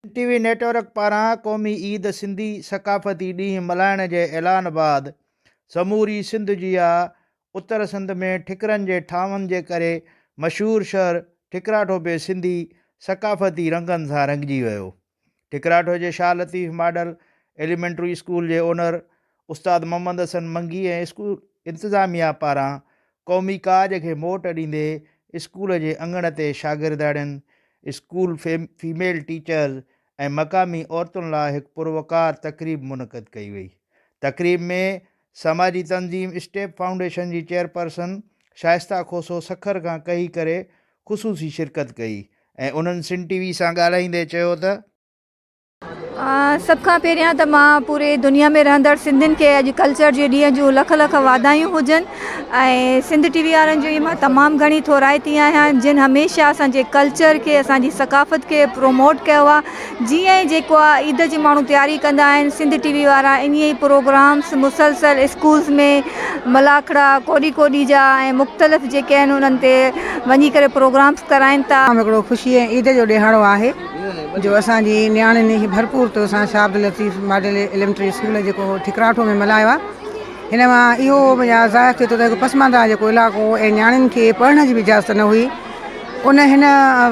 N T V network پاران قومي عيد سنڌي ثقافتي ڏينهن ملهائڻ جي اعلان بعد سموري سنڌ جيان اتر سنڌ ۾ ٺڪرن جي ٺاهن جي ڪري مشهور شهر ٺڪراٺو به سنڌي ثقافتي رنگن سان رنگجي ويو ٺڪراٺو جي Shah Latif model elementary school جي اونر استاد محمد حسن منگي ۽ اسڪول انتظاميا پاران قومي ڪاڄ کي موٽ ڏيندي اسڪول جي اڱڻ تي شاگردياڻين، اسڪول فيميل ٽيچرز ۽ مقامي عورتن لاء هڪ پروقار تقريب منعقد ڪئي وئي. تقريب ۾ سماجي تنظيم اسٽيپ فائونڊيشن جي چيئرپرسن شائسته کوسو سکر کان ڪهي ڪري خصوصي شرڪت ڪئي ۽ انهن سنڌ ٽي وي سان ڳالهائيندي چيو ته، سڀ کان پهريان ته مان پوري دنيا ۾ رهندڙ سنڌين کي اڄ ڪلچر جي ڏينهن جون لک لک واڌايون هجن ۽ سنڌ ٽي وي وارن جي مان تمام گهڻي ٿورائتي آهيان جن هميشه اسان جي ڪلچر کي اسان جي ثقافت کي پروموٽ ڪيو آ جيئن هي جيڪو آ عيد جي ماڻهو تياري ڪندا آهن سنڌ ٽي وي وارا انهي ئي پروگرامس مسلسل اسڪولس ۾ ملاکڙا ڪوڏي ڪوڏي جا ۽ مختلف جيڪي آهن انهن تي وڃي ڪري پروگرامس ڪرائين ٿا. هڪڙو خوشي ۽ عيد جو ڏيهاڙو آهي. جو اسان جي نياڻين کي ڀرپور طور سان Shah Abdul Latif model elementary school جيڪو ٺڪراٺو ۾ ملهايو آهي هن مان اهو يا ظاهر ٿئي ٿو ته هڪ پسمانده جيڪو علائقو هو ۽ نياڻين کي پڙهڻ جي به اجازت نه هئي ان هن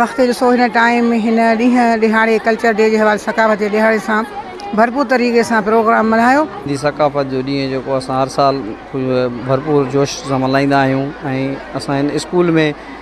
وقت جو سو هن ٽائيم هن ڏينهن ڏهاڙي ڪلچر ڊي جي حوالي ثقافت جي ڏهاڙي سان ڀرپور طريقي سان پروگرام ملهايو. سنڌي ثقافت جو ڏينهن جيڪو اسان هر سال ڀرپور جوش سان ملهائيندا آهيون ۽ اسان هن اسڪول ۾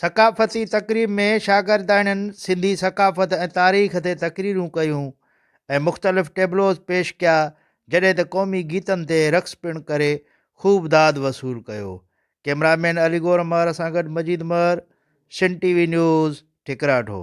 ثقافتي تقريب ۾ شاگرداڻين سنڌي ثقافت ۽ تاريخ تي تقريرون ڪيون ۽ مختلف ٽيبلوز پيش ڪيا جڏهن ته قومي گيتن تي رقص پڻ ڪري خوب داد وصول ڪيو ڪيمرا مين علي گور مهر سان گڏ Majeed Mahar Sindh T V news ٺڪراٺو.